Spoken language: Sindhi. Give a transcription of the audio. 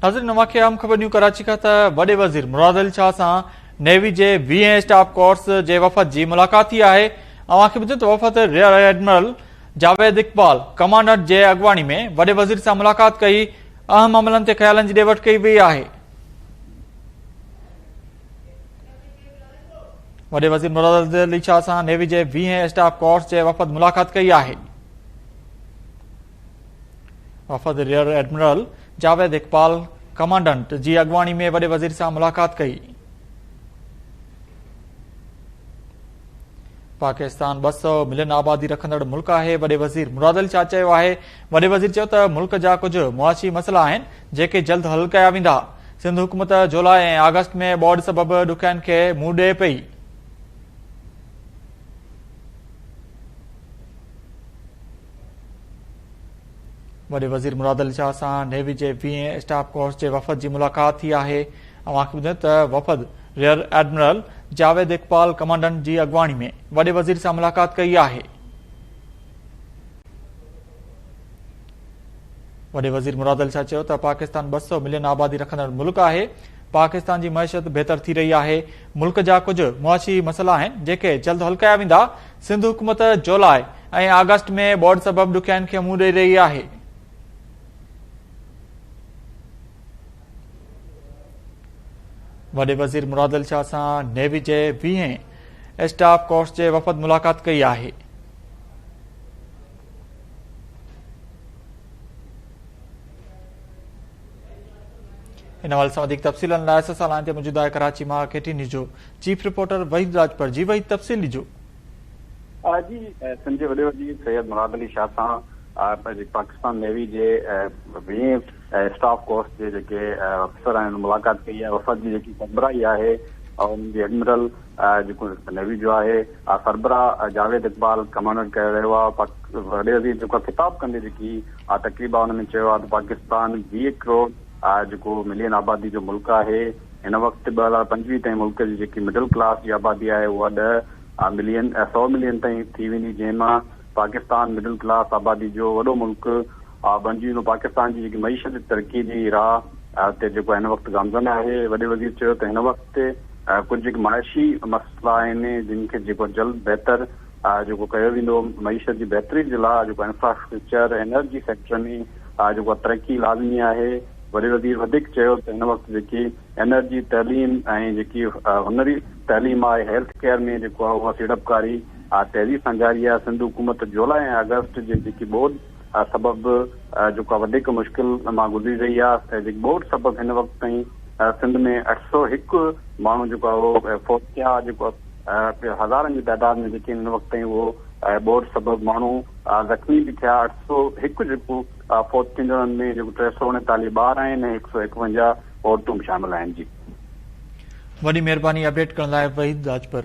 ناظرين اوهان کي اهم خبر نيو ڪراچي کان ته وڏي وزير مراد علي شاهه سان نيوي جي ويهين اسٽاف ڪورس جي وفد جي ملاقات ٿي آهي اوهان کي ٻڌيون ته وفد rear admiral Javed Iqbal commandant جي اڳواڻي ۾ وڏي وزير سان ملاقات ڪئي اهم عملن تي خيالن جي ڏي وٺ ڪئي وئي آهي وڏي وزير مراد علي شاهه سان نيوي جي ويهين اسٽاف ڪورس جي وفد ملاقات ڪئي آهي وفد rear admiral Javed Iqbal commandant جي اڳواڻي ۾ وڏي وزير سان ملاقات ڪئي. پاڪستان ٻه سؤ ملين آبادي رکندڙ ملڪ آهي وڏي وزير مراد علي شاهه چيو آهي وڏي وزير چيو ته ملڪ جا ڪجهه معاشي مسئلا آهن جيڪي جلد حل ڪيا ويندا سنڌ حڪومت جولاء ۽ آگسٽ ۾ ٻوڏ سبب ڏکيائين کي منهن ڏئي پئي وڏي وزير مراد علي شاهه سان نيوي جي ويهين اسٽاف ڪورس جي وفد جي ملاقات ٿي آهي اوهان کي ٻڌايون ته وفد rear admiral Javed Iqbal commandant جي اڳواڻي ۾ وڏي وزير سان ملاقات ڪئي آهي وڏي وزير مراد علي شاهه چيو ته پاڪستان ٻه سؤ ملين آبادي رکندڙ ملڪ آهي، پاڪستان جي معيشت بهتر ٿي رهي آهي، ملڪ جا ڪجهه معاشي مسئلا آهن جيڪي جلد حل ڪيا ويندا، سنڌ حڪومت جولاء ۽ آگسٽ ۾ ٻوڏ سبب ڏکيائين کي منهن ڏئي رهي آهي. وڏي وزير مراد علي شاهه سان نيوي جي ويهين اسٽاف ڪورس جي وفد ملاقات ڪئي آهي. ان حوالي سان وڌيڪ تفصيل لاء اسان سان لائين تي موجود آهي ڪراچي مان ڪي ٽي نيوز جو چيف رپورٽر وحيد راجپر جي وحيد تفصيل ڏجو جي سنڌ وڏي وزير سيد مراد علي شاهه سان پاڪستان نيوي جي ويهين اسٽاف ڪورس جي جيڪي افسر آهن ملاقات ڪئي آهي وفد جي جيڪي سربراهي آهي ان جي ايڊمرل جيڪو نيوي جو آهي آء سربراهه جاويد اقبال ڪمانڊر ڪيو ويو آهي پاڪ وڏي وزير جيڪو خطاب ڪندي جيڪي آء تقريب آهي ان ۾ چيو آهي ته پاڪستان ويهه ڪروڙ آء جيڪو ملين آبادي جو ملڪ آهي هن وقت ٻه هزار پنجويهه تائين ملڪ جي جيڪي مڊل ڪلاس جي آبادي آهي اها ڏهه آء ملين آء سؤ ملين تائين ٿي ويندي جنهن مان پاڪستان مڊل ڪلاس آبادي جو وڏو ملڪ آء بڻجي ويندو پاڪستان جي جيڪي معيشت جي ترقي جي راهه تي جيڪو هن وقت گامزن آهي وڏي وزير چيو ته هن وقت تي ڪجهه جيڪي معاشي مسئلا آهن جن کي جيڪو جلد بهتر جيڪو ڪيو ويندو معيشت جي بهتري جي لاء جيڪو انفراسٽرڪچر انرجي سيڪٽر ۾ جيڪو ترقي لازمي آهي وڏي وزير وڌيڪ چيو ته هن وقت جيڪي انرجي تعليم ۽ جيڪي هنري تعليم آهي هيلٿ ڪيئر ۾ جيڪو اها سيڙپڪاري تيزي سان جاري آهي سنڌ حڪومت جولاء ۽ آگسٽ جي جيڪي ٻوڏ سبب جيڪا وڌيڪ مشڪل مان گذري رهي آهي ته جيڪي ٻوڏ سبب هن وقت تائين سنڌ ۾ اٺ سؤ هڪ ماڻهو جيڪو آهي اهو فوت ٿيا آهي جيڪو هزارن جي تعداد ۾ جيڪي هن وقت تائين اهو ٻوڏ سبب ماڻهو زخمي به ٿيا اٺ سؤ هڪ جيڪو فوت ٿيندڙن ۾ جيڪو ٽي سؤ اڻيتاليهه ٻار آهن ۽ هڪ سؤ ايڪونجاهه عورتون به شامل آهن جي وڏي مهرباني اپڊيٽ ڪرڻ لاء وحيد راڄپر.